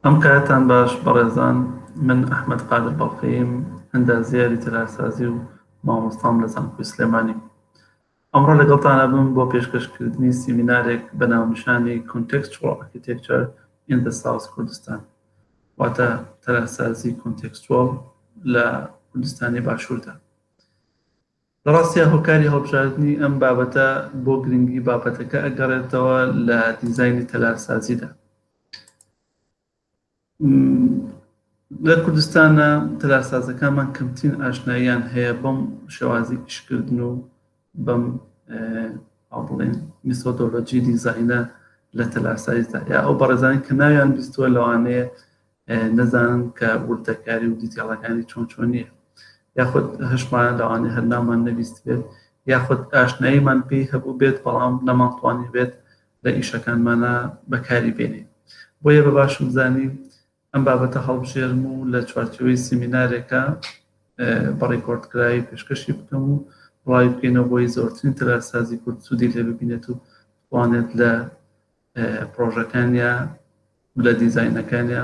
ئەم کاتان باش بەڕێزان من ئەحمەد قادر بەڵقەییم ئەندازیاری تەلارسازی و مامۆستام لە زانکۆی سلێمانی ئەمڕۆ لەگەڵتانە بم بۆ پێشکەشکردنی سیمینارێک بە ناونیشانی Contextual Architecture in the South Kurdistan واتە تەلارسازی کۆنتێکستوەڵ لە کوردستانی باشووردا لە ڕاستیا هۆکاری هەڵبژاردنی ئەم بابەتە بۆ گرنگی بابەتەکە ئەگەڕێتەوە لە دیزاینی تەلارسازیدا. لە کوردستانە تەلارسازەکانمان کەمترین ئاشناییان هەیە بەم شێوازی ئیشکردن و بەم بڵێن میسۆدۆلۆجی دیزاینە لە تەلارسازیدا یا ئەو بەڕێزانی کە ناویان بیستوە لەوانەیە نەزانن کە وردەکاری و دیتێڵەکانی چۆن چۆن نیە یاخود هەشمان لەوانێ هەر نامان نەبیست بێت یاخود ئاشناییمان پێی هەبوو بێت بەڵام نەمانتوانی بێت لە ئیشەکانمانە بەکاری بێنی بۆیە بە باشم زانی ئەم بابەتە هەڵبژێرم و لە چوارچەوەی سیمینارێکە بەڕیکۆردکراوی پێشکەشی بکەم و ڕای بکەینەوە بۆی زۆرترین تەلارسازی کورد سوودی لێ ببینێت و توانێت لە پرۆژەکانیا لە دیزینەکانیا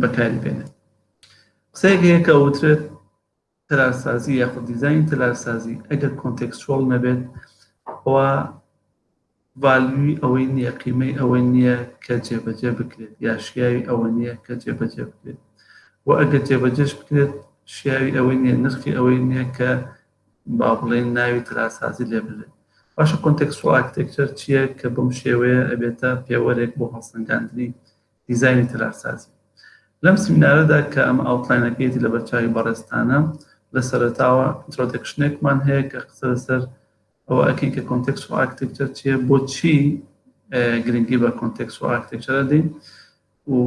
بەکاری بێنێت قسەیەک هەیە کە وترێت تەلارسازی یاخود دیزین تەلارسازی ئەگەر کۆنتێکسچۆڵ نەبێت ئەوە ڤالیوی ئەوەی نییە قیمەی ئەوە نییە کە جێبەجێ بکرێت یا شیاوی ئەوە نییە کە جێبەجێ بکرێت و ئەگەر جێبەجێش بکرێت شیاوی ئەوەی نییە نرخی ئەوەی نییە کە با بڵێین ناوی تەلارسازی لێ بنرێت. باشە کۆنتێکسوال ئارکتێکچەر چییە کە بەم شێوەیە ئەبێتە پێوەرێک بۆ هەڵسەنگاندنی دیزاینی تەلارسازی؟ لەم سیمینارەدا کە ئەمە ئاوتلاینەکەیەتی لە بەرچاوی بەڕێزتانە، لە سەرەتاوە ئینترۆدەکشنێکمان هەیە کە قسە لەسەر ئەوە ئەکەین کە کۆنتێکسوال ئارکتێکچەر چییە، بۆچی گرنگی بە کۆنتێکسوال ئارکتێکچەرە دەین و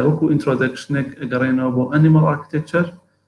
وەکو ئینترۆدەکشنێک ئەگەڕێنەوە بۆ ئەنیمەڵ ئارکتێکچەر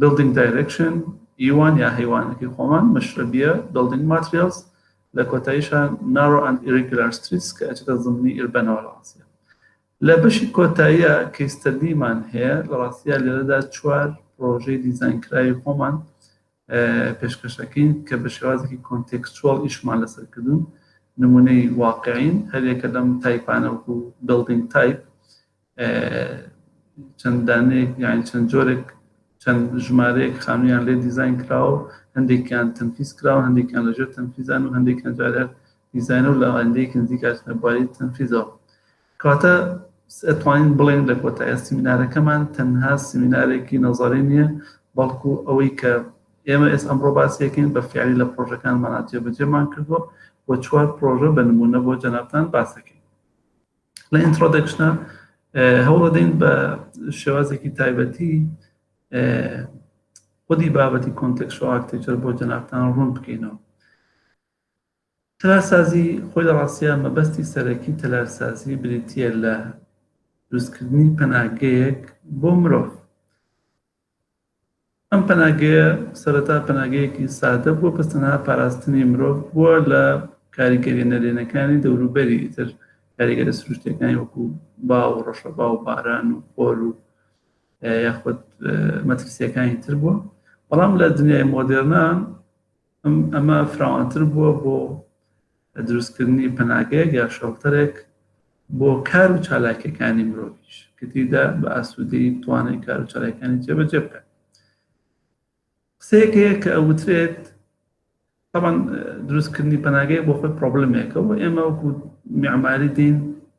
Building Direction، یوان یا هەیوانەکەی خۆمان، مەشرەبیە، Building Materials، لە کۆتاییشا Narrow and Irregular Streets کە ئەچێتە زمنی ئیربەنەوە لە ڕاستیا. لە بەشی کۆتاییا Case Study مان هەیە، لە ڕاستیا لێرەدا چوار پڕۆژەی دیزاینکراوی خۆمان پێشکەش ئەکەین کە بە شێوازێکی کۆنتێکستوەڵ ئیشمان لەسەر کردوون، نموونەی واقعین، هەریەکە لەم تایپانە وەکوو Building Type، چەند دانەیەک یان چەند جۆرێک چەند ژمارەیەک خانوویان لێ دیزین کراوە و هەندێکیان تەنفیز کراوە هەندێکیان لەژێر تەنفیزان و هەندێکیان جارە دیزینە و لاوەندەیەک نزیکاتنە بواری تەنفیزەوە کاتە ئەتوانین بڵێن لە کۆتایە سیمینارەکەمان تەنها سیمینارێکی نەزاری نییە بەڵکو ئەوەی کە ئێمە ئێس ئەمڕۆ باسیەکەین بە فیعلی لە پرۆژەکانمانە جێبەجێمان کردووە و چوار پرۆژە بە نمونە بۆ جەنابان باسەکەین لە ئینترۆدەکشنا هەوڵەدەین بە شێوازێکی تایبەتی خودی بابەتی کۆنتێکس و ئاکتێکچەر بۆ جەنابتان ڕوون بکەینەوە تەلارسازی خۆی لە ڕاستە مەبەستی سەرەکی تەلارسازی بریتە لە دروستکردنی پەناگەیەک بۆ مرۆڤ ئەم پەناگەیە سەرەتا پەناگەیەکی سادە بووە بە تەنها پاراستنی مرۆڤ بووە لە کاریگەریە نەرێنەکانی دەوروبەری ئیتر کاریگەرە سروشتەکانی وەکو با و ڕەشە با و باران و خۆر و یاخود مەترسیەکانی تر بووە بەڵام لە دنیای مۆدێرنا ئەمە فراوانتر بووە بۆ دروستکردنی پەناگەیەک یا شەڵتەرێک بۆ کار و چالاکیەکانی مرۆڤش کە تیدا بە ئاسوودەی توانێت کار و چالاکانی جێبەجێ بکات قسەیەکەیە کە ئەوترێت طبعا دروستکردنی پەناگەی بۆ خۆی پرۆبلمێکە و ئێمە وەکو معماری دین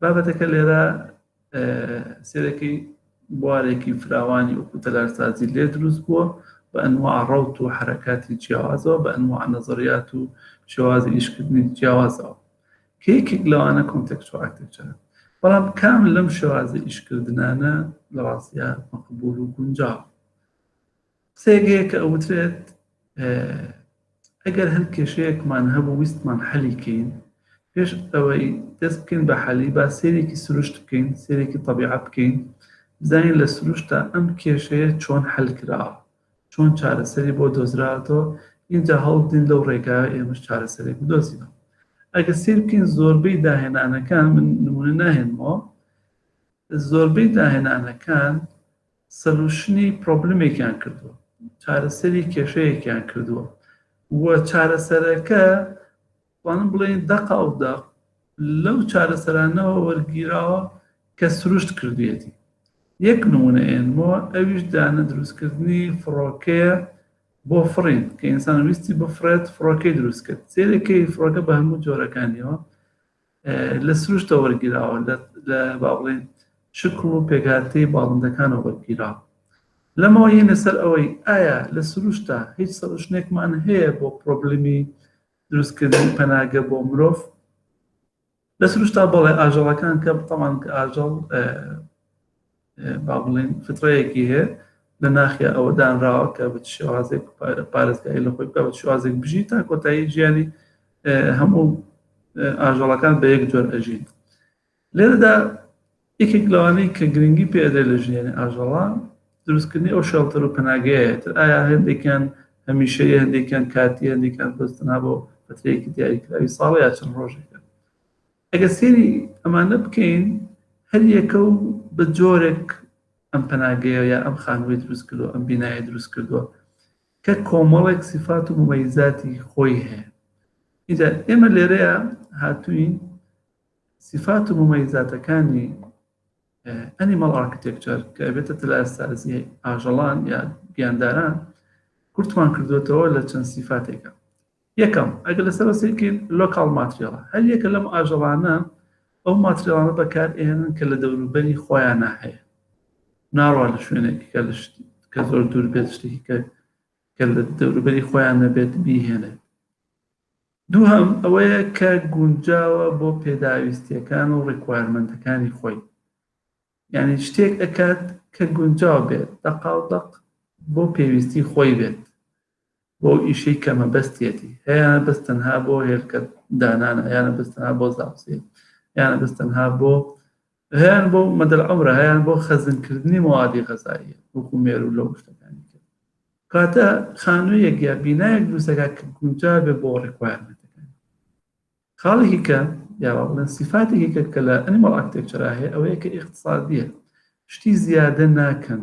بابەتەکە لێرە سێرەکەی بوارێکی فراوانی وەکو تەلارسازی لێ دروست بووە بە ئەنوا ڕوت و حرکاتی جیاوازەوە بە ئەنوا نەزریات و شێواز ئیشکردنی جیاوازەوە کێکێک لەوانە کۆنتەکچۆکتێکچە بەڵام کام لەم شێوازە ئیشکردانە لە ڕاستە مەقبول و گونجاو قسەیەک هەیە کە ئەوترێت ئەگەر هەر کێشەیەکمان هەبوو ویستمان حەلی کەین پێش ئەوەی دەست بکەین بە حەلی با سێرێکی سروشت بکەین سێرێکی طبیعە بکەین بزانین لە سروشتا ئەم کێشەیە چۆن حل کراوە چۆن چارەسەری بۆ دۆزراتەوە اینجا هەڵدین لەو ڕێگا ئێمەش چارەسەرێک بدۆزینەوە ئەگە سیر بکەین زۆربەی داهێنانەکان من نمونە ناهێنمەوە زۆربەی داهێنانەکان سەلوشنی پرۆبلمێکیان کردووە چارەسەری کێشەیەکیان کردووە و چارەسەرەکە وانم بڵێن دەقا و دەق لەو چارەسەرانەوە وەرگیراوە کە سروشت کردوێتی یەک نمونە ئێنمەوە ئەویش دانە دروستکردنی فڕۆکەیە بۆ فڕین کە ئینسان ویستی بفرێت فڕۆکەی دروست کرد سێرەکەی فڕۆکە بە هەموو جۆرەکانیەوە لە سروشتە وەرگیراوە لە باڵێن شکڵ و پێکهاتەی باڵندەکانەوە وەرگیراوە لەمەوە یە لەسەر ئەوەی ئایا لە سروشتا هیچ سەرشنێکمان هەیە بۆ پرۆبلمی دروستکردن پەناگە بۆ مرۆڤ لە سروشتا بەڵێ ئاژەڵەکان کە بتەمان کە ئاژەڵ با بڵێن فتڕەیەکی هەیە لە ناخیا ئەوە دانراوە کە بە شێوازێک پارێزگای لە خۆی بکە بە شێوازێک بژی تا کۆتایی ژیانی هەموو ئاژەڵەکان بە یەک جۆر ئەژین لێرەدا یەکێک لەوانەی کە گرنگی پێدە لە ژیانی ئاژەڵە دروستکردنی ئەو شەڵتەر و پەناگەیە تر ئایا هەندێکیان هەمیشە هەندێکیان کاتی هەندێکیان بەستنا بۆ پەترێکی دیاریکراوی ساڵ یا چەند ڕۆژێکە ئەگەر سەیری ئەمانە بکەین هەریەکە و بە جۆرێک ئەم پەناگەیە یا ئەم خانووی دروست کردو ئەم بینایە دروست کردووە کە کۆمەڵێک سیفات و ممەیزاتی خۆی هەیە ئیجا ئێمە لێرەیە هاتوین سیفات و ممەیزاتەکانی ئەنیمەڵ ئارکتێکچەر کە بێتە تلارسازی ئاژەڵان یا گیانداران کورتمان کردوێتەوە لە چەند سیفاتێکە یەکەم، ئەگەر لەسەر بەسێکی لۆکاڵ ماتریاڵە، هەر یەکە لەم ئاژەڵانە ئەو ماتریاڵانە بەکار ئێنن کە لە دەوروبەری خۆیانە هەیە ناڕوا لە شوێنێکی کە لە شتی کە زۆر دوور بێت شتێکی کە کە لە دەوروبەری خۆیان نەبێت بیهێنێت دووهم ئەوەیە کە گونجاوە بۆ پێداویستیەکان و ڕیکوارمنتەکانی خۆی یعنی شتێک ئەکات کە گونجاو بێت دەقاڵدەق بۆ پێویستی خۆی بێت بۆ ئیشەی کە مەبەستیەتی هەیانە بەس تەنها بۆ هێلکە دانانە هەیانە بەس تەنها بۆ زاوسێ هەیانە بەس تەنها بۆ هەیان بۆ مەدەل عمرە هەیان بۆ خەزنکردنی موادی غەزاییە وەکو مێر و لەو شتەکانی کرد کاتە خانوویەک یا بینایەک دروستەکە کە گونجا بێ بۆ ڕێکوارمەتەکان خاڵێکی کە یاوا بڵێن سیفاتێکی کە کە لە ئەنیمەڵ ئاکتێکچرا هەیە ئەوەیە کە ئیقتصادیە شتی زیادە ناکەن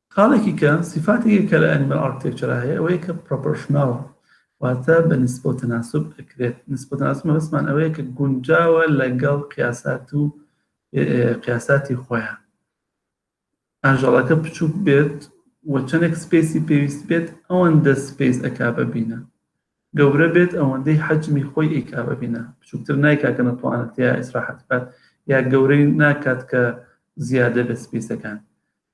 خاڵێکی کە سیفاتێکی کە لە ئەنیمەل ئارکتێکچەرا هەیە ئەوەیە کە پرۆپۆرشناڵ واتە بە نسبە و تەناسب ئەکرێت نسبە تەناسب مەبەستمان ئەوەیە کە گونجاوە لەگەڵ قیاسات و قیاساتی خۆیان ئاژەڵەکە بچووک بێت و چەندێک سپیسی پێویست بێت ئەوەندە سپیس ئەکا ببینە گەورە بێت ئەوەندەی حەجمی خۆی ئیکا ببینە بچووکتر نایکا کە نەتوانێت یا ئیسراحەت بکات یا گەورەی ناکات کە زیادە بە سپیسەکان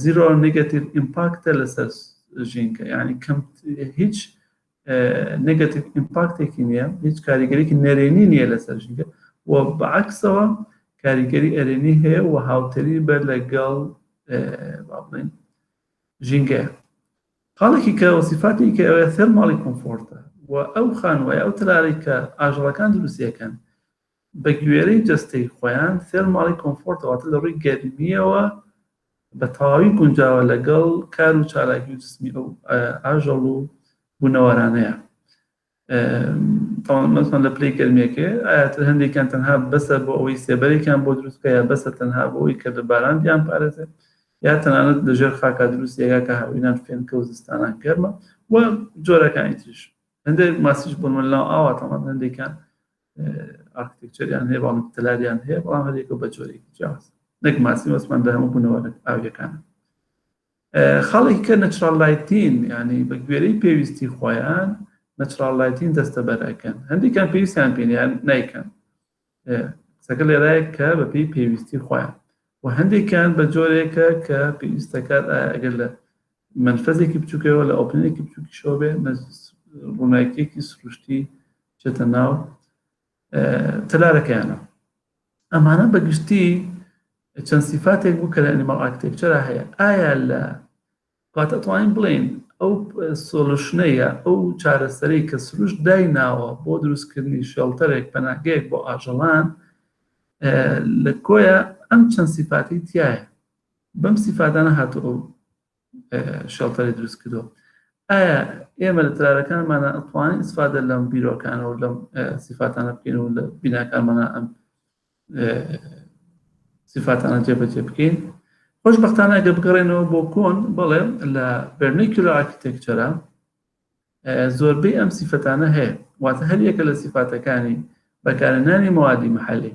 زیرۆ نگەتیڤ ئیمپاکتە لەسەر ژینکە ینی کەم هیچ نگەتیڤ ئیمپاکتێکی نییە هیچ کاریگەریکی نەرێنی نییە لەسەر ژینکە و بەعکسەوە کاریگەری ئەرێنی هەیە و هاوتەری بە لەگەڵ بڵێن ژینگەیە خاڵێکی کە وەسیفاتی کە ئەوێ ثەرماڵی کۆمفۆرتە و ئەو خانوای ئەو تەلاری کە ئاژەڵەکان دروستیەکەن بە گوێرەی جەستەی خۆیان ثێرماڵی کۆمفۆرتە واتە لە ڕووی گەرمییەوە بە تەواوی گونجاوە لەگەڵ کار و چالاکی و جسمی ئەو ئاژەڵ و بوونەوەرانەیە تاوانمەسان لە پلەی گەرمێکێ ئاەتر هەندێکیان تەنها بەسەر بۆ ئەوەی سێبەرێکیان بۆ دروستکە یا بەسە تەنها بۆ ئەوی کە لە باران دیان پارێزێت یا تەنانەت لە ژێر خاکا دروست یەکا کە هاوینان فێنکە و زستانان گەرمە و جۆرەکانی تریش هەندێک ماسیش بۆ منلا ئاواتەمان هەندێکیان ئارکتێکچەریان هەیە بەڵام تەلاریان هەیە بەڵام هەرێکە بە جۆرێکی جیاز نەک ماسی وەسمان بە هەموو بوونەوە ئاویەکان خەڵک کە نەچرال لایتین ینی بە گوێرەی پێویستی خۆیان نەچرال لایتین دەستە بەرەکەن هەندێکیان پێویستیان پێنیان نیکەن قسەکە لێرایە کە بە پێی پێویستی خۆیان و هەندێکیان بە جۆرێکە کە پێویستەکات ئەگەر لە مەنفەزێکی بچووکەوە لە ئۆپنەرێکی بچووکیشەوە بێ ڕوونایکێکی سروشتی چێتە ناو تەلارەکەیانە ئەمانە بەگشتی چەند سیفاتێک بوو کە لە ئەنیماڵ ئاکتێکچەرا هەیە ئایا لە کات ئەتوانین بڵێن ئەو سۆلوشنەیە ئەو چارەسەرەی کە سروش دای ناوە بۆ دروستکردنی شێڵتەرێک پەناگەیەک بۆ ئاژەڵان لە کۆیە ئەم چەند سیفاتی تایە بەم سیفاتانە هاتوو ئەو شێڵتەری دروست کردو ئایا ئێمە لە ترارەکانمانە ئەتوانین ئیسفادە لەم بیرۆکانەوە لەم سیفاتانە بکەین و لە بیناکانمانە ئەم سیفاتانە جێبەجێ بکەین خۆشببختانە گە بگەڕێنەوە بۆ کۆن بەڵێ لە بەرنیکیل ئاکتێکچەرە زۆربەی ئەم سیفەتانە هەیە واتە هەر یەکە لە سیفاتەکانی بەکارنانی موادی محلی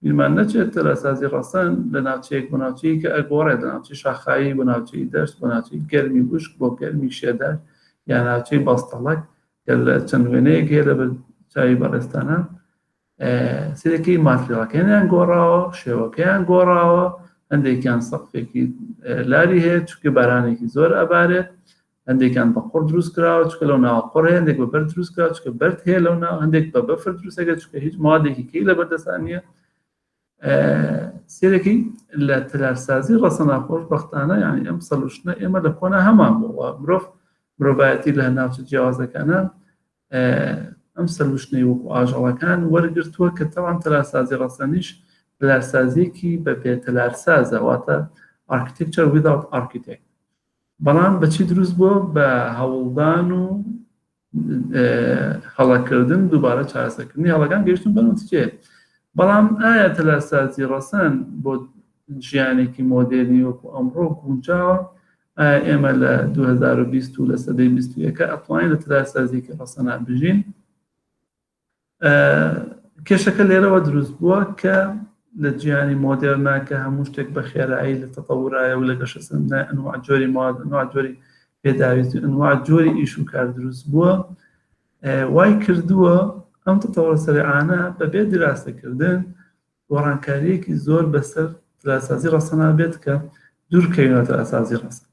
بیرمان نەچێت تەلارسازی ڕەسەن لە ناوچەیەک بۆ ناوچەیەکی ئەگۆڕێت، لە ناوچەی شاخاوی بۆ ناوچەی دەشت، بۆ ناوچەی گەرمی وشک بۆ گەرمی شێدار یان ناوچەی بەستەڵەک کە لە چەند وێنەیەک هەیە لە چاوی بەڕێزتانان سرەکەی ماتریاڵەکەیان گۆڕاوە شێوەکەیان گۆڕاوە هەندێکیان سەقفێکی لاری هەیە چکە بارانێکی زۆر ئەبارێت هەندێکیان بە قوڕ دروست کراوە چکە لەو ناوە قڕ هەندێک بە بەر دروست کرا چکە بەرد هەیە لەو ناو هەندێک بە بەفر دروستەکە چکە هیچ مادێکی کەی لە بەردەستان نییە سێرەکەی لە تەلارسازی ڕەسەنا خۆش بەختانە یانی ئەم سەلوشنە ئێمە لە کۆنا هەمان بووە مرۆڤ مرۆڤایەتی لە ناوچە جیاوازەکانە ئەم سەلوشنەی وەکو ئاژەڵەکان وەرگتووە کە تەوان تەلارسازی ڕەسەنیش تەلارسازیەکی بە پێ تەلارسازە واتە ئارکتێکچەر ویداوت ئارکیتێک بەڵام بە چی دروست بووە؟ بە هەوڵدان و هەڵەکردن دووبارە چارەسەکردنی هەڵەکان گەشتن بە نوتکێ بەڵام ئایا تەلارسازی ڕەسەن بۆ ژیانێکی مۆدێرنی وەکو ئەمڕۆ گونجاوە ئێمە لە 2020 و لە سەدەی 21 ئەتوانین لە تەلارسازیکی ڕەسەنان بژین کێشەکە لێرەوە دروست بووە کە لە جیانی مۆدێرنا کە هەموو شتێک بە خێرایی لە تەپەورایە و لە گەشە سندە ئەنوا جۆری مواد ئەنوا جۆری پێداویست و ئەنوا جۆری ئیش و کار دروست بووە وای کردووە ئەم تەتەوەرە سەرعانە بەبێ دراسەکردن گۆڕانکاریەکی زۆر بەسەر دراسازی ڕەسەنا بێت کە دوورکەوینەوە دراسازی ڕەسەن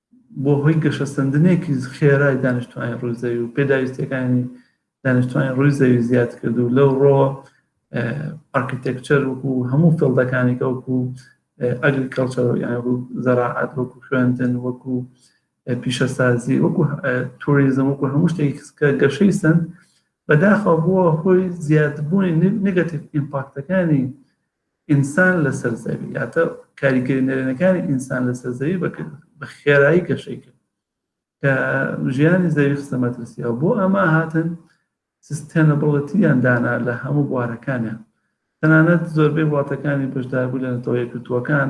بووە هۆی گەشەسەندنێکی خێرای دانیشتوانی ڕووی زەوی و پێداویستیەکانی دانیشتوانی ڕووی زەوی زیاد کرد و لەو ڕۆ ئارکیتێکچەر وکو هەموو فڵدەکانی کەوکو ئەگریکەڵچەر یان زەراعات وەکو خوێندن وەکو پیشەسازی وەکو توریزم وەکو هەموو شتێک کە گەشەی سند بەداخەوە بووە هۆی زیادبوونی نگەتیف ئیمپاکتەکانی ئینسان لەسەر زەوی یاتە کاریگەری نەرێنەکانی ئینسان لەسەر زەوی بەکرد بە خێرایی گەشەی کرد کە ژیانی زەوی خستە مەترسیەوە بۆ ئەمە هاتن سستێنەبڵەتیان دانا لە هەموو بوارەکانیان تەنانەت زۆربەی وڵاتەکانی بەشداربوو لە نەتەوە یەکگرتووەکان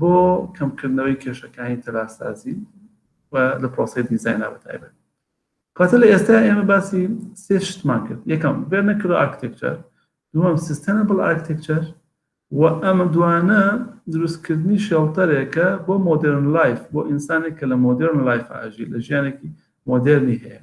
بۆ کەمکردنەوەی کێشەکانی تەلارسازی و لە پرۆسەی دیزاینا بە تایبەت کاتە لە ئێستا ئێمە باسی سێ شتمان کرد یەکەم بێرنەکرۆ ئاکتێکچەر دووەم سیستەنە بڵ ئاکتێکچەر و ئەمە دوانە دروستکردنی شێڵتەرێکە بۆ مۆدرن لایف بۆ ئینسانێک کە لە مۆدرن لایف ئاژی لە ژیانێکی مۆدررنی هەیە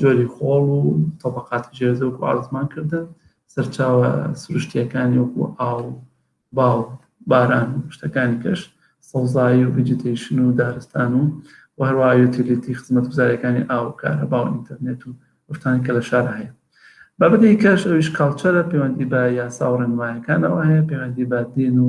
جۆری خۆڵ و تەبقاتی ژێرزەوک و ئاسمان کردن سەرچاوە سروشتیەکانی وەکو ئاو باو باران شتەکانی کەش سەوزایی و ویجیتیشن و دارستان و و هەروە یوتیلیتی خزمەت گوزارەکانی ئاو کارە باو ئینتەرنێت و ئەفتان کە لە شار هەیە بابەتی کەش ئەویش کاڵچەرە پەیوەندی بە یاسا و ڕێنمایەکانەوە هەیە پەیوەندی بە دین و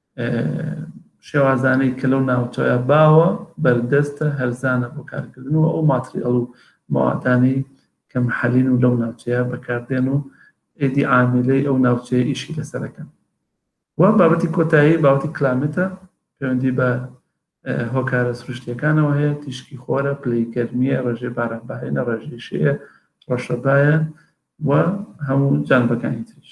شێوازانەی کە لەو ناوچەیە باوە بەردەستە هەرزانە بۆ کارکردن و ئەو ماتریاڵ و ماواتانی کە محەلین و لەو ناوچەیە بەکاردێن و ئێدی عاملەی ئەو ناوچەیە ئیشی لەسەرەکەن و بابەتی کۆتایی باوتی کلامێتە پەیوەندی بە هۆکارە سروشتیەکانەوە هەیە تیشکی خۆرە پلی گەرمیە ڕێژێ بارانباێنە ڕێژیشەیە ڕەشەبایە و هەموو جانبەکانی تریش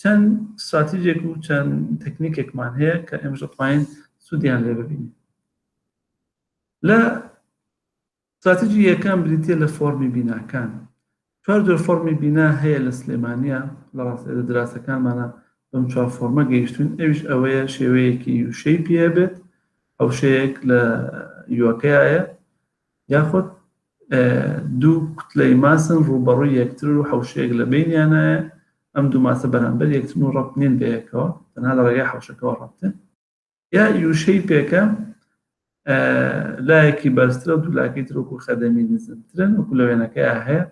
چەند ستراتیجێک و چەند تەکنیکێکمان هەیە کە ئێمەش دەتوانین سوودیان لێ ببینین لە ستراتیجی یەکەم بریتە لە فۆرمی بیناکان چوار جۆر فۆرمی بینا هەیە لە سلێمانە لە ڕاست لە دراسەکانمانە بەم چوار فۆرمە گەیشتون ئەوش ئەوەیە شێوەیەکی یوشەی پێ بێت ئەو شەیەک لە یوەکەیە یاخود دوو کوتلەی ماسن ڕووبەڕووی یەکترن و حەوشەیەک لە بەینیانایە، ئەم دوو ماسە بەرامبەر یەکترن و ڕەبت نین بەیەکەوە، تەنها لە ڕێگای حەوشەکەوە ڕەبتن. یا یوشەی پێکە، لایەکی بەرزترە و دوو لاکەی تر وەکو خەدەمی نزمترن، وەکو لە وێنەکەیا هەیە،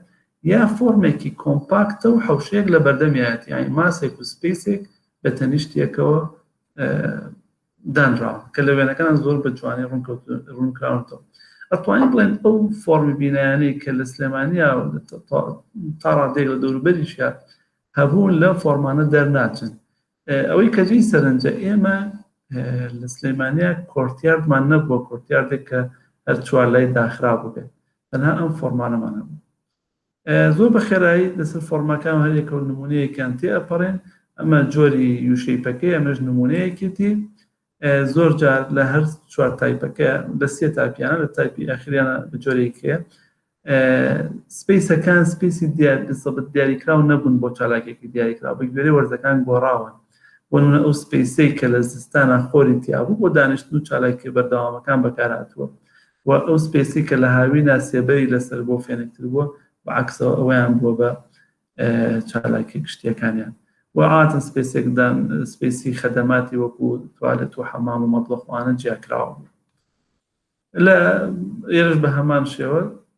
یا فۆرمێکی کۆمپاکتە و حەوشەیەک لە بەردەمیایەتی، یانی ماسێک و سپەیسێک بە تەنیشت یەکەوە دانراون کە لە وێنەکان زۆر بە جوانی ڕوونکراونەوە ئەتوانین بڵێن ئەو فۆرمی بینایانەی کە لە سلێمانیا تا ڕادێک لە دەوروبەریشە هەبوون لە فۆرمانە دەرناچن ئەوەی کەجی سەرنجە ئێمە لە سلێمانیا کۆرتیاردمان نەبووە کۆرتیاردێک کە هەر چوار لای داخرا بووێت تەنها ئەم فۆرمانەمان هەبوو زۆر بە خێرایی لەسەر فۆڕمەکان و هەریەکە و نموونەیەکیان تێ ئەپەڕێن، ئەمە جۆری یو شەیپەکەی ئەمەش نموونەیەکێتی، زۆر جار لە هەر چوار تایپەکە لە سێ تاپیانە لە تایپی ئاخریانە بە جۆرێک هەیە سپیسەکان سپیسی دیارسەبت دیاریکراو نەبوون بۆ چالاکێکی دیاریکراو بە گوێرەی وەرزەکان گۆڕاون وەنە ئەو سپیسەی کە لە زستانە خۆری تیابوو بۆ دانیشتن و چالاکی بەردەوامەکان بەکارهاتووە و ئەو سپێسی کە لە هاوینا سێبەری لەسەر بووە فێنکتر بووە و عەکسەوە ئەوەیان بووە بە چالاکیە گشتیەکانیان و عادەتەن سپێسێکدان سپێسی خەدەماتی وەکو توالێت و حەمام و مەتبەخ وانە جیاکراوە بوو لە ئێرش بە هەمان شێوە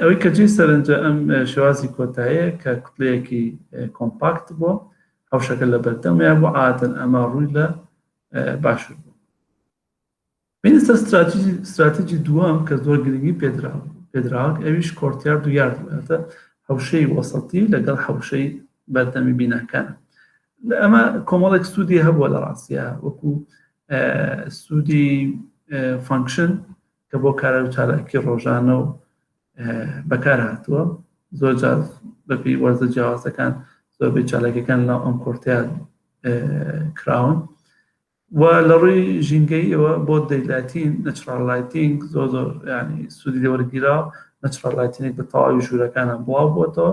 ئەوەی کە جێی سەرنجە ئەم شێوازی کۆتاییە کە کوتلەیەکی کۆمپاکت بۆ حوشەکە لە بەردەمەیە بۆ عادن ئەمە ڕووی لە باشوور بوو بینستە استراتیجی دووەم کە زۆر گرنگی پێدرا پێدراک ئەویش کۆرتیار دو یارد باتە حوشەی وەسەتی لەگەڵ حوشەی بەردەمی بیناکان لە ئەمە کۆمەڵێک سوودی هەبووە لە ڕاستە وەکو سوودی فانکشن کە بۆ کارا و چالاکی ڕۆژانە و بەکار هاتووە زۆر جار بەپی وەرزە جیاوازەکان زۆربەی چالاکەکان ناو ئەم کۆرتیان کراون و لە ڕووی ژینگەیەوە بۆ دەیلاتین نەچڕالایتینگ زۆر زۆر ینی سوودی لێوەرگیرا نەچڕالایتینێک بە تەواوی ژوورەکانە بڵاو بووەتەوە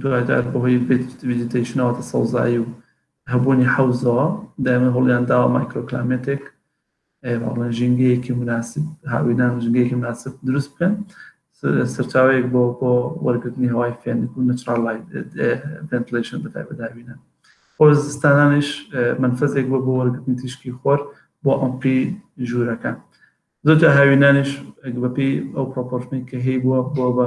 دوایدار بەهۆی ڤێجیتەیشن واتە سەوزایی و هەبوونی حەوزەوە دایمە هەوڵیان داوە مایکرۆکلامێتێک بەڵێن ژینگەیەکی مناسب هاوینان ژنگەیەکی مناسب دروست بکەن سەرچاوەیەک بۆ بۆ وەرگرتنی هەوای فێنک و نەچڕال ڤنتلیشن بەتای بەداوینە بۆ زستانانیش منفەزێک بۆ بۆ وەرگرتنی تیشکی خۆر بۆ ئەمپی ژوورەکان زۆرجا هاوینانیش بەپی ئەو پرۆپۆرشنی کە هەی بووە بۆ بە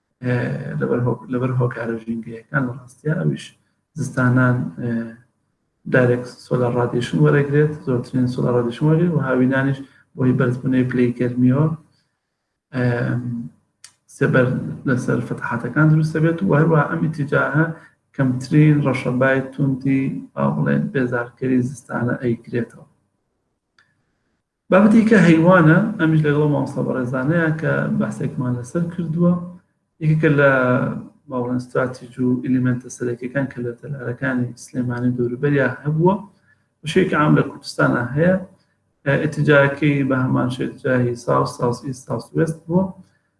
لەبەر هۆکارە ژینگەیەکان لە ڕاستیا ئەویش زستانان دارێک سۆلا ڕادیشن وەرەگرێت زۆرترین سۆلا ڕادیشن وەرێ و هاوینانیش بۆی بەرزبوونەوەی پلی گەرمیەوە سێبەر لەسەر فتحاتەکان دروستە بێت و هەروە ئەم ئیتیجاهە کەمترین ڕەشەبای توندی با بڵێن بێزارکەری زستانە ئەیکرێتەوە بابەتێکی کە هەیوانە ئەمیش لەگەڵ ئەو مامۆستا بەڕێزانەیە کە بەحسێکمان لەسەر کردووە یەکێکە لە باڵێن استراتیج و ئلیمنتە سەرەکیەکان کە لە تەلارەکانی سلێمانی دەوروبەریا هەبووە بەشێکی عام لە کوردستانە هەیە ئتیجاکەی بە هەمان شێتجاهی ساوس ساوس ئی ساوس وێست بووە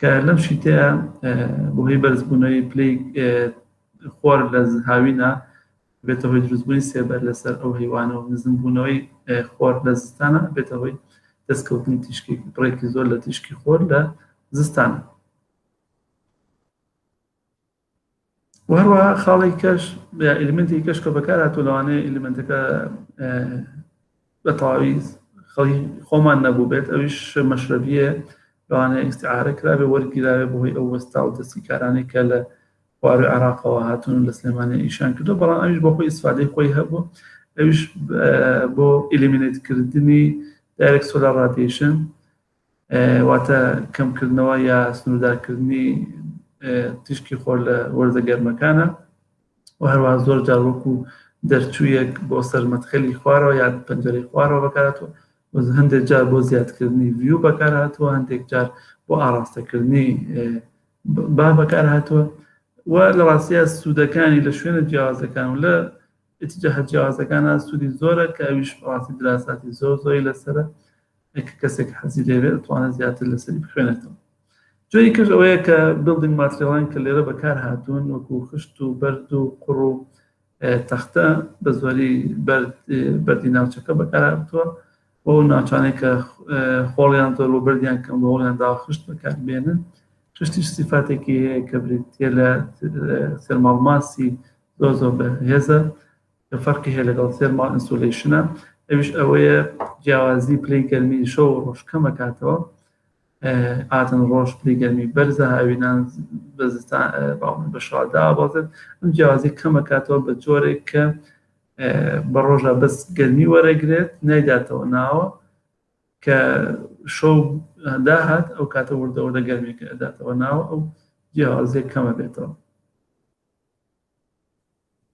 کە لەم شیتەیە بۆهی بەرزبوونەوەی پلی خۆر لە هاوینە بێتە هۆی دروستبوونی سێبەر لەسەر ئەو هیوانە و نزمبوونەوەی خۆر لە زستانە بێتە هۆی دەستکەوتنی تیشکی بڕێکی زۆر لە تیشکی خۆر لە زستانە و هەروەها خاڵی کەش یا ئلیمنتی کەش کە بەکارهاتوو لەوانەیە ئلیمنتەکە بە تەواوی خەڵی خۆمان نەبوو بێت ئەویش مەشرەبیە لەوانەیە ئیسعاارە کراێ وەرگیراوێ بەهۆی ئەو وەستا و دەستی کارانەی کە لە خوارو عراقەوە هاتون لە سلێمانە ئیشان کردو بەڵام ئەویش بۆ خۆی ئیسفادەی خۆی هەبوو ئەویش بۆ ئلیمینێتکردنی دایرێک سۆلار رادیشن واتە کەمکردنەوە یا سنووردارکردنی تیشکی خۆر لە وەرزە گەرمەکانە و هەروە زۆر جار وەکو دەرچوویەک بۆ سەرمەتخەلی خوارەوە یا پەنجەری خوارەوە بەکاتەوە هەندێک جار بۆ زیادکردنی ویو بەکار هاتووە هەندێک جار بۆ ئاراستەکردنی با بەکار هاتووە و لە ڕاستە سوودەکانی لە شوێنە جیاوازەکان و لە ئیتر جەهەت جیاوازەکان هەن سوودی زۆرە کە ئەویش بەڕاستی دراساتی زۆر زۆری لەسرە کە کەسێک حەزی لێوێ ئەتوانێت زیاتر لەسەری بخوێنێتەوە جۆری کەش ئەوەیە کە بڵدنگ ماتریڵان کە لێرە بەکار هاتوون وەکو خشت و بەرد و قڕ و تەختە بە زۆری بەردی ناوچەکە بەکارهاتووە بۆ ناوچانێک کە خۆڵیان زۆر بۆ بردیان کەم بە هۆڵیان داخشت بەکار بێنن خشتیش سیفاتێکی هەیە کە بریتە لە سەرماڵماسی زۆر زۆر بەهێزە کە فەرقی هەیە لەگەڵ سێرماڵ ئینسۆلیشنە ئەوش ئەوەیە جیاوازی پلی گەرمی شەو و ڕۆژ کەمەکاتەوە ئاتن ڕۆژ پلی گەرمی بەرزە هاوینان بە شادا بازێت ئەم جیاوازی کەمەکاتەوە بە جۆرێک کە بە ڕۆژە بەس گەرمی وەرەگرێت نایداتەوە ناوە کە شەو داهات ئەو کاتە وردەوردە گەرمێکە ئەداتەوە ناوە ئەو جیاوازێک کەمە بێتەوە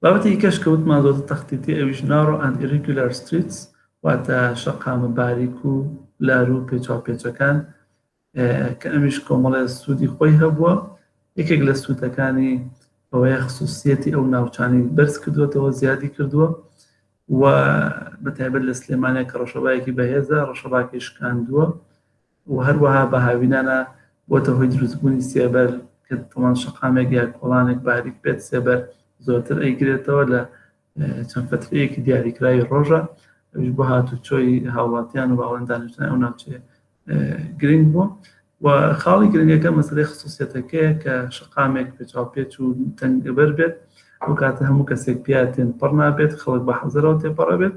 بابەتی دیکەش کە وتمان زۆرتر تەختیتی ئەویش نارۆ ئەند ئیریگولار ستریتس واتە شەقامە باریک و لار و پێچاوپێچەکان کە ئەمیش کۆمەڵێ سوودی خۆی هەبووە یەکێک لە سوودەکانی ئەوەیە خصوصیەتی ئەو ناوچانی بەرز کردوێتەوە زیادی کردووە و بە تایبەت لە سلێمانە کە ڕەشەبایەکی بەهێزە ڕەشەباکەی شکاندووە و هەروەها بە هاوینانە بۆتە هۆی دروستبوونی سێبەر کە دڵان شەقامێک یا کۆڵانێک باریک بێت سێبەر زۆرتر ئەیگرێتەوە لە چەند فترەیەکی دیاریکراوی ڕۆژە ئەوش بۆ هاتوچۆی هاوڵاتیان و باڵێن دانیشتن ئەو ناوچێ گرنگ بووە و خاڵی گرنگەکە مەسلەی خصوصیەتەکەیە کە شقامێک پێچاو پێچ و تەنگەبەر بێت ئەو کاتە هەموو کەسێک پیاتێن پڕ نابێت خەڵک بە حەزەرەوە تێپەڕە بێت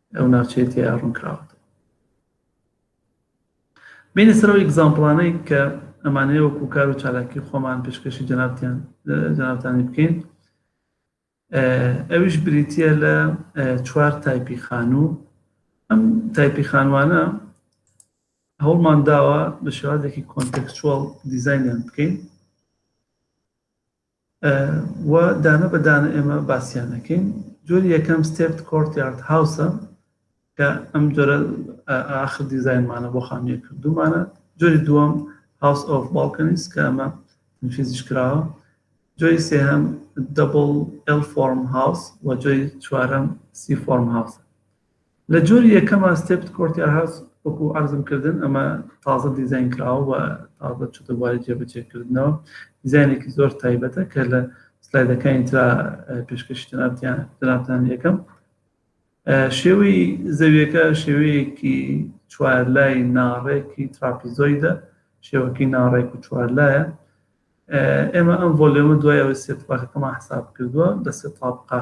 ئەو ناوچەیە تێیا ڕوونکراوەتەوە بینە سەرەوە ئیگزامپڵانەی کە ئەمانەیە وەکو کار و چالاکی خۆمان پێشکەشی جەنابتیان جەنابتانی بکەین ئەویش بریتە لە چوار تایپی خانوو ئەم تایپی خانوانە هەوڵمان داوە بە شێوازێکی کۆنتەکچوەڵ دیزینیان بکەین و دانە بە دانە ئێمە باسیانەکەین جۆری یەکەم ستێپت کۆرت یارد هاوسە کە ئەم جۆرە ئاخر دیزایانمانە بۆ خانوویە کردومانە جۆری دووەم هاوس ئۆف باڵکەنیس کە ئەمە فیزیش کراوە جۆری سێهەم دەبڵ ئەل فۆرم هاوس و جۆری چوارەم سی فۆرم هاوس لە جۆری یەکەمە ستێپت کۆرتیار هاوس وەکو عەرزم کردن ئەمە تازە دیزاین کراوە و تازە چوتە بواری جێبەجێکردنەوە دیزاینێکی زۆر تایبەتە کە لە سلایدەکانی ترا پێشکەشی جنابتیان جنابتان یەکەم شێوەی زەویەکە شێوەیەکی چوارلای ناڕێکی تراپیزۆیدە شێوەکی ناڕێک و چوارلایە ئێمە ئەم ڤۆلیۆمە دوای ئەوەی سێ تاقەکەمان حساب کردووە لە سێ تاقا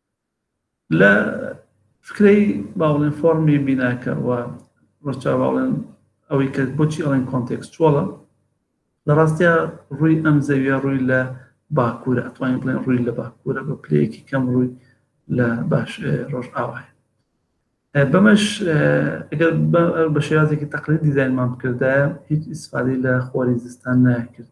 لە فکرەی باڵێن فۆرمی بیناکە و ڕەچا باڵێن ئەوەی کە بۆچی ئەڵێن کۆنتێکسچۆڵە لە ڕاستیا ڕووی ئەم زەویە ڕووی لە باکوورە ئەتوانین بڵێن ڕووی لە باکوورە بە پلەیەکی کەم ڕووی لە باش ڕۆژ ئاوایە بەمەش ئەگەر بە شێوازێکی تەقلی دیزانمان بکردایە هیچ ئیسفادی لە خۆری زستان ناکرد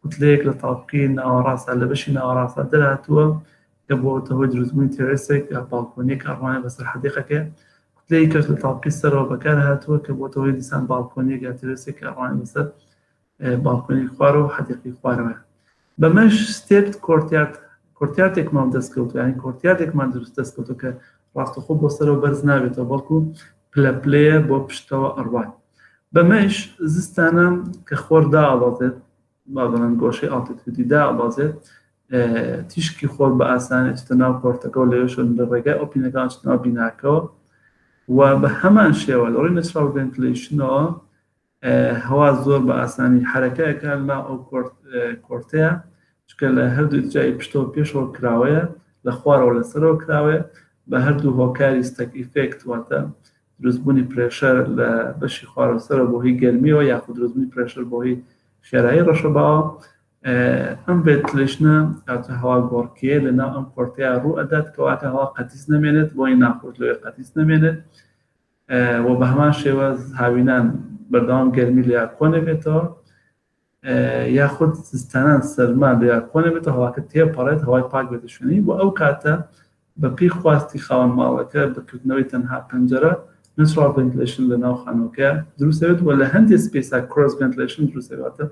کوتلەیەک لە تاڤگەی ناوەڕاستدا لە بەشی ناوەڕاستدا دەرهاتووە کە بووەتە هۆی دروستبوونی تێرێسێک لە باڵکۆنییەک کە ئەڕوانێت بەسەر حەدیقەکەی، کوتلەی کەش لە تاڤگەی سەرەوە بەکارهاتووە کە بووەتە هۆی دیسان باڵکۆنییەک یا تێرێسێک کە ئەڕوانێت بەسەر باڵکۆنیی خوارەوە و حەدیقەی خوارەوەیان. بەمەش ستێپد کۆرتیارد کۆرتیاردێکمان دەستکەوتووە یانی کۆرتیاردێکمان دروست دەستکەوتووە کە ڕاستەخۆ بۆ سەرەوە بەرز نابێتەوە بەڵکو پلە پلەیە بۆ پشتەوە ئەڕوات. بەمەیش زستانە کە خۆر دائەبەزێت بابڵێن گۆشەی ئاڵتیتودی دائەبەزێت تیشکی خۆر بە ئاسانی چتە ناو کۆرتەکە و لەوێشن لە ڕێگای ئۆپینەکان چناو بیناکەوە و بە هەمان شێوە لە ڕووی نەچراو ڤنتلیشنەوە هەوا زۆر بە ئاسانی حرەکەکە لا ئەو کۆرتەیە چکە لە هەردوو جای پشتەوە پێشەوە کراوەیە لە خوارەوە لەسەرەوە کراوەیە بە هەردوو هۆکاری ستەک ئیفێکت واتە دروستبوونی پرێشەر لە بەشی خوارەوسەرەوە بۆ هۆی گەرمیەوە یاخود دروستبوونی پرێشەر بۆ هۆی خێرایی ڕەشەباوە ئەم ڤێتلشنە کاتە هەوا گۆڕکێ لەناو ئەم کۆرتەیە ڕوو ئەدات کەواتە هەوا قەتیس نەمێنێت بۆی ناخۆش لەوێ قەتیس نەمێنێت و بە هەمان شێوە هاوینان بەردەوام گەرمی لە کۆنەبێتەوە یاخود زستانان سەرما بێ کۆ نەبێتە هەواکە تێپەڕێت هەوای پاک بێتە شوێنی و ئەو کاتە بەپی خواستی خاوەن ماڵەکە بەکردنەوەی تەنها پەنجەرە نسڕ بنتلشن لە ناو خانۆکە دروستەوێت و لە هەندێک سپیسا کرۆس بنتلشن دروستەواتە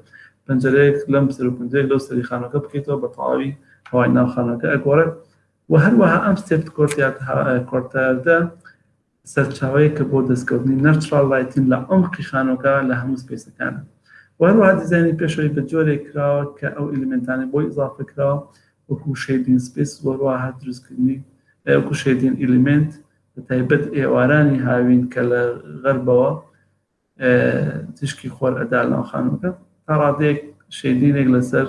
پەنجەرەیەک لەم سەر و پنجەیەک لەو سەری خانۆکە بکەیتەوە بە تەواوی هەوای ناو خانۆکە ئەگۆڕێت و هەروەها ئەم سێفت کۆرتیات کۆرتاردە سەرچاوەیەکە بۆ دەستکەوتنی نەچڕاڵ لایتین لە عەمقی خانووەکە لە هەموو سپەیسەکان و هەروەها دیزاینی پێشەوەی بە جۆرێک کراوە کە ئەو ئیلیمێنتانەی بۆی ئیزافە کراوە وەکوو شەیدین سپەیس و هەروەها دروستکردنی وەکوو شەیدین ئیلیمێنت بە تایبەت ئێوارانی هاوین کە لە غەربەوە تشکی خۆر ئەدا لەناو خانوەکە تا ڕادێک شێدینێک لەسەر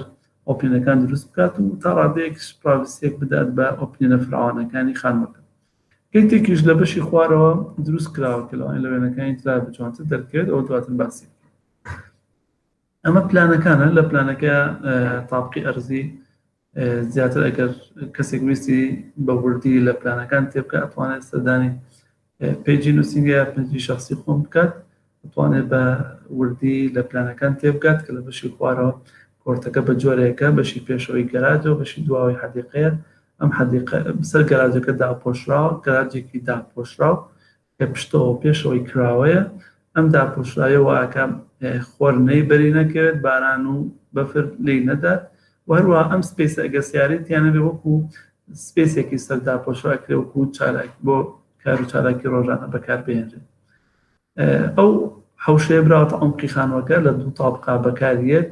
ئۆپینەکان دروست بکات و تا ڕادێک پراویسێک بدات بە ئۆپینە فراوانەکانی خانوەکە کەیتێکیش لە بەشی خوارەوە دروست کراوە کە لەوان لە وێنەکانی ترا بجوانتر دەرکرێت ئەو دواتر باسی ئەمە پلانەکانە لە پلانەکە تاپقی ئەرزی زیاتر ئەگەر کەسێک ویستی بە وردی لە پلانەکان تێبکە ئەتوانێت سەردانی پێجی نووسنگە پنجی شخصی خۆم بکات توانێت بە وردی لە پلانەکان تێبگات کە لە بەشی خوارەوە کۆرتەکە بە جۆرێکە بەشی پێشەوەی گەراجەوە بەشی دواوەی حەدیقەیە ئەم حەدیقە سەر گەراجەکە داپۆشراوە گەراجێکی داپۆشراو کە پشتەوە پێشەوەی کراوەیە، ئەم داپۆشراویە وائەکا خۆر نەی بەری نەکەوێت باران و بەفر لێی نەدات و هەروەها ئەم سپێسە ئەگەر سیارەی تیا نەبێت وەکو سپێسێکی سەر داپۆشرا ئەکرێت وەکو چالاکی بۆ کار و چالاکی ڕۆژانە بەکار بهێنرێت ئەو حەوشەیە براوەتە عەمقی خانوەکە لە دوو تابقا بەکاریەت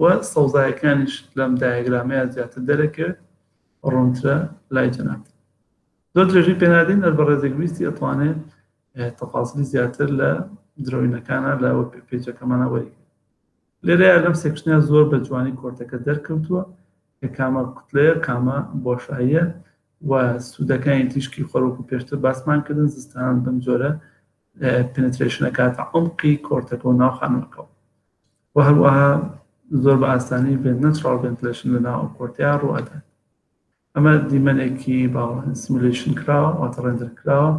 و سەوزایەکانیش لەم دایەگرامەیا زیاتر دەرەکەوێت ڕوونترە لای جەنابتان زۆر درێژەی پێنادەین هەر بەڕێزێک ویستی ئەتوانێت تەفاسلی زیاتر لە درۆینەکانە لە پێچەکەمانە وەری لێرەیە لەم سێکشنیا زۆر بە جوانی کۆرتەکە دەرکەوتووە کە کامە کوتلەیە کامە بۆشاییە و سوودەکانی تیشکی خۆرۆکو پێشتر باسمان کردن زستان بم جۆرە پنترشنەکاتە ئەمقی کۆرتەکە و ناو خانمەکەەوە و هەروەها زۆر بە ئاسانی بێت نەتراڵ ڤنتلشن لە ناو کۆرتیا ڕوئەدات ئەمە دیمەنێکی باوە سیملیشن کراوە واتە ڕێندر کراوە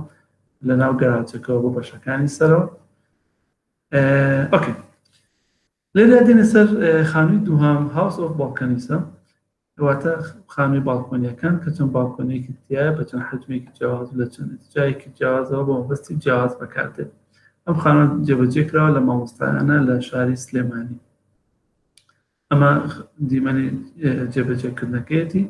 لە ناو گەراجەکەەوە بۆ بەشەکانی سەرەوە ئۆکەی لێدا دێنە سەر خانووی دووهام هاوس ئۆف باڵکەنیسە کەواتە خانووی باڵکۆنیەکان کە چەند باڵکۆنێکی تایە بە چەند حجمێکی جیاواز لە چەند جایەکی جیاوازەوە بۆ مەبەستی جیاواز بەکاردێت ئەم خانوان جێبەجێ کراوە لە مامۆستایانە لە شاری سلێمانی ئەمە دیمەنی جێبەجێکردنەکەیەتی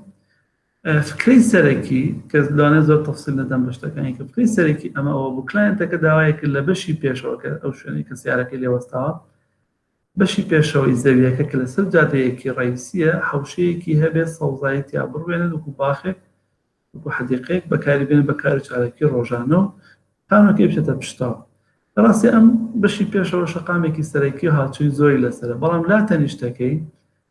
فکرەی سەرەکی کە لەوانە زۆر تەفسیل نەدەم بە شتەکانی کە فکرەی سەرەکی ئەمە ئەوە بوو کلاینتەکە داوایەکە لە بەشی پێشەوەکە ئەو شوێنی کە سیارەکەی لێوەستاوە بەشی پێشەوەی زەویەکە کە لەسەر جادەیەکی ڕەیسیە حەوشەیەکی هەبێت سەوزایی تیا بڕوێنن وەکو باخێک وەکو حەدیقەیەک بەکاری بێنن بە کار و چالاکی ڕۆژانە و پانۆکەی بچێتە پشتەوە ڕاستی ئەم بەشی پێشەوە شەقامێکی سەرەکی و هاوچووی زۆری لەسەرە بەڵام لا تەنیشتەکەی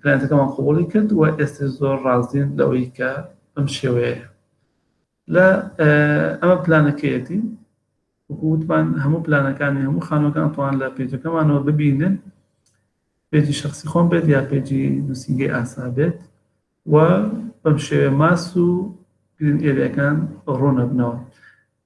کلاینتەکەمان قبوڵی کرد و ئێستا زۆر ڕازین لەوەی کە بەم شێوەیە لە ئەمە پلانەکەیەتی وتمان هەموو پلانەکانی هەموو خانەکان توان لە پێجەکەمانەوە ببینن پێجی شخصی خۆم بێت یا پێجی نووسنگی ئاسا بێت و بەم شێوێ ماس و گرین ئێریەکان ڕوونەبنەوە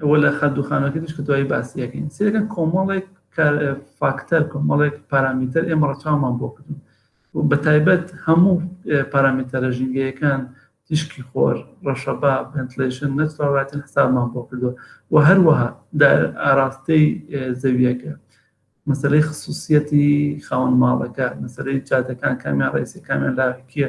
ئەوە لە خە دوخانەکە دیش کە دوایی باسی یەکەین سێکە کۆمەڵێک فاکتەر کۆمەڵێک پارامیتەر ئێمە ڕەچاومان بۆ کردن و بە تایبەت هەموو پارامیتەرە ژینگەیەکان تیشکی خۆر ڕەشەبا بنتلیشن نەچڕاتن حسابمان بۆ کردو و هەروەها ئاراستەی زەویەکە مەسلەی خصوصیەتی خاون ماڵەکە مەسلەی جادەکان کامیان ڕێسی کامیان لاکیە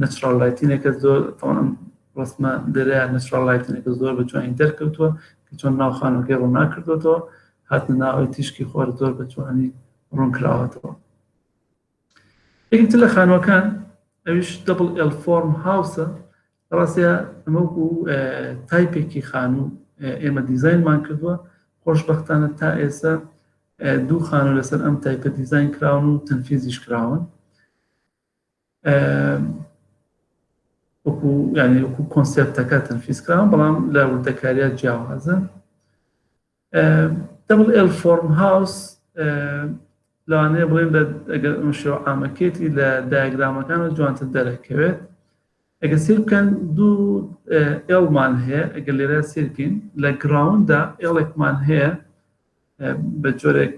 نەچڕاڵ لایتینێکە زۆر تەوان ڕسمە دەرە نەچڕاڵ لایتینێکە زۆر بە جوانی دەرکەوتووە کە چۆن ناو خانەکەی ڕوونا کردوەوە هاتنە ناوەی تیشکی خۆر زۆر بە جوانی ڕوون کراوەتەوە یەکتر لە خانوەکان ئەوش دەبڵ ئەل فۆرم هاوسە ڕاستە ئەمەکو تایپێکی خانوو ئێمە دیزینمان کردووە خۆشببختانە تا ئێستا دوو خانە لەسەر ئەم تایپە دیزین کراون و تەنفیزیش کراون وەکو ینی وەکو کۆنسپتەکە تەنفیزکراون بەڵام لە وردەکاریات جیاوازە دەبڵ ئێل فۆرم هاوس لەوانەیە بڵێن ئەگەر ئەم شێوە ئامەکێتی لە دایگرامەکان جوانتر دەرەکەوێت ئەگەر سەیر بکەن دوو ئێڵمان هەیە ئەگەر لێرە سەیر بکەین لە گراوندا ئێڵێکمان هەیە بە جۆرێک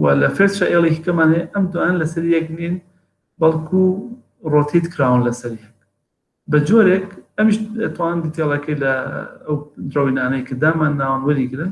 و لە فێرشە ئێڵێکی کەمان هەیە ئەم دوان لەسەر یەک نین بەڵکو ڕۆتیت کراون لەسەر یەک بە جۆرێک ئەمیش توان دیتێڵەکەی لە ئەو درۆینانەی کە دامان ناوان وەریگرن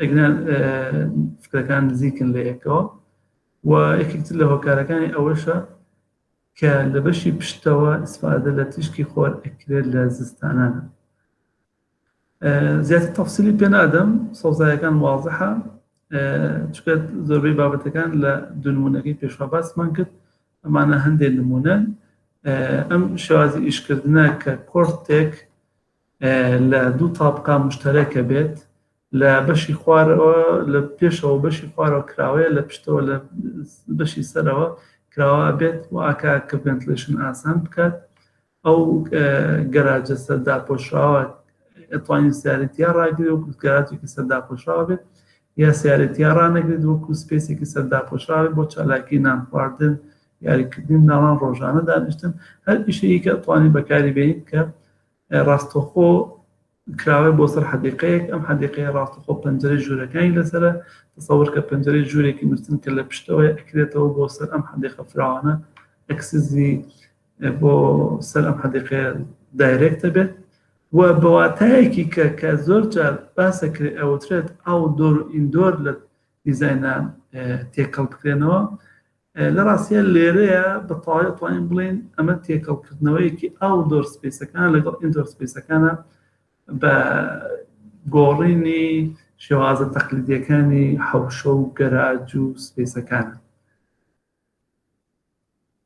ئەگنا فکرەکان نزیکن لە یەکەوە و یەکێکتر لە هۆکارەکانی ئەوەشە کە لە بەشی پشتەوە ئیسفادە لە تیشکی خۆر ئەکرێت لە زستانانە زیاتر تەفسیلی پێنادەم سەوزایەکان وازحە چکە زۆربەی بابەتەکان لە دونمونونەکەی پێشوا باسمان کرد ئەمانە هەندێک نمونەن ئەم شێوازی ئیشکردە کە کۆرتێک لە دوو تابقا مشتەرەکە بێت لە بەشی خوارەوە لە پێشەوە بەشی خوارەوە کراوەیە لە پشتەوە لە بەشی سەرەوە کراوە بێت و ئاکا کە ڤنتلشن ئاسان بکات ئەو گەراجە سەردا پۆشراوە ئەتوانین سیارەتیا ڕاگرێ و گەراجێکی سەردا پۆشراوە بێت یا سیارەتیا ڕانەگرێت وەکو سپێسێکی سەردا پۆشراوێت بۆ چالاکی نان خواردن یاریکردن ناڵان ڕۆژانە دانیشتن هەر پیشەیەکە ئەتوانین بەکاری بێت کە ڕاستەخۆ کراوەیە بۆ سەر حەدیقەیەک ئەم حەدیقەیە ڕاستەخۆ پەنجەرەی ژوورەکانی لەسرە تەسەور کە پەنجەرەی ژوورێکی نووسن کە لە پشتەوەی ئەکرێتەوە بۆ سەر ئەم حەدیقە فراوانە ئەکسزی بۆ سەر ئەم حەدیقەیە دایرێکتە بێت و بەواتایەکی کە کە زۆر جار باسەکرێت ئەوترێت ئەو دۆر ئیندۆر لە دیزاینە تێکەڵ بکرێنەوە لە ڕاستە لێرەیە بە تەواوی توانین بڵێن ئەمە تێکەڵکردنەوەیەکی ئاو دۆر سپیسەکان لەگەڵ ئیندۆر سپیسەکانە بە گۆڕینی شێوازە تەقلیدیەکانی حەوشە و گەراج و سپیسەکان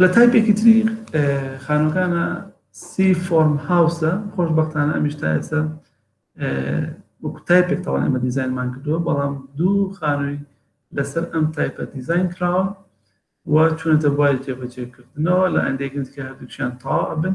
لە تایپێکی تری خانوەکانە سی فۆرم هاوسە خۆش بەختانە ئەمیش تا ئێستا وەکو تایپێک تەوان ئەمە دیزینمان کردووە بەڵام دوو خانووی لەسەر ئەم تایپە دیزین کراوە و چونەتە بواری تێبەجێکردنەوە لە ئەندێکن کە هەردووچیان تاوا بن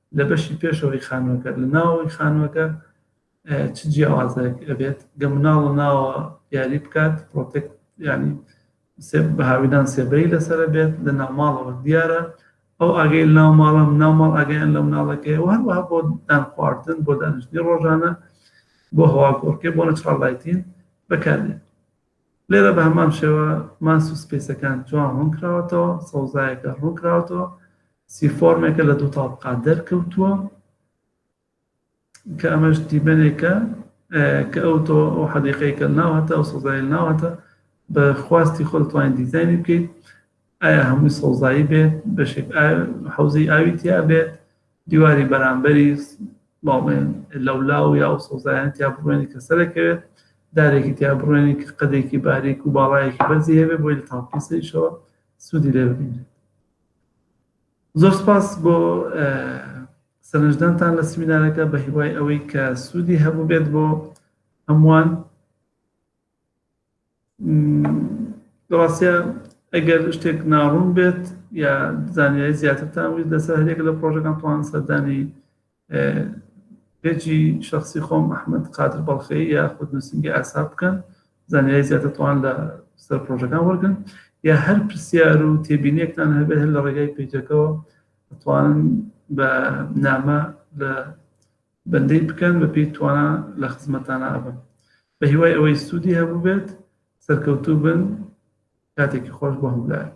لە بەشی پێشەوەی خانووەکە لە ناوەوەی خانووەکە چ جیاوازێک ئەبێت گە مناڵ ناوە یاری بکات پرۆتێک ینی بە هاویدان سێبەری لەسرە بێت لە ناوماڵەوە دیارە ئەو ئاگەی ناو ماڵم ناوماڵ ئاگەیان لە مناڵەکەی وهروە بۆ دان خواردن بۆ دانیشتنی ڕۆژانە بۆ هەواگۆڕکێ بۆ نەچڕڵایتین بەکاردێت لێرە بە هەمان شێوە ماس و سپیسەکان جوان ڕوون کراوەتەوە سەوزایەکە ڕوون کراوەتەوە سی فۆرمێکە لە دوو تاڵقا دەرکەوتووە کە ئەمەش دیمەنێکە کە ئەو تۆ ئەو حەدیقەیەکە ناوەتە ئەو سەوزای ناوەتە بە خواستی خۆ توانین دیزانی بکەیت ئایا هەمووی سەوزایی بێت بەشێک حوزی ئاوی تیا بێت دیواری بەرامبەری باڵێن لەولا و یا و سەوزایان تیا بڕوێنی کە سەرەکەوێت دارێکی تیا بڕوێنی کە قەدێکی باریک و باڵایەکی بەرزی هەبێ بۆی لە تاڵپیسەیشەوە سوودی لێ ببینێت زۆر سپاس بۆ سەرنجدانتان لە سمینارەکە بە هیوای ئەوەی کە سوودی هەبوو بێت بۆ هەمووان ڕاستە ئەگەر شتێک ناڕوون بێت یا زانیاری زیاترتان ویست لەسەر هەرێک لە پرۆژەکان توان سەردانی پێجی شخصی خۆم ئەحمد قادر بەڵخی یا خود نووسنگی ئاسا بکەن زانیاری زیاترتوان لە سەر پرۆژەکان وەرگن یا هەر پرسیار و تێبینێکتان هەبێت هەر لە ڕێگای پیجەکەەوە ئەتوانن بە نامە لە بەندەی بکەن بە پێی توانا لە خزمەتانا ئەبم بە هیوای ئەوەی سودی هەبوو بێت سەرکەوتوو بن کاتێکی خۆش بۆ هەموو لایەک.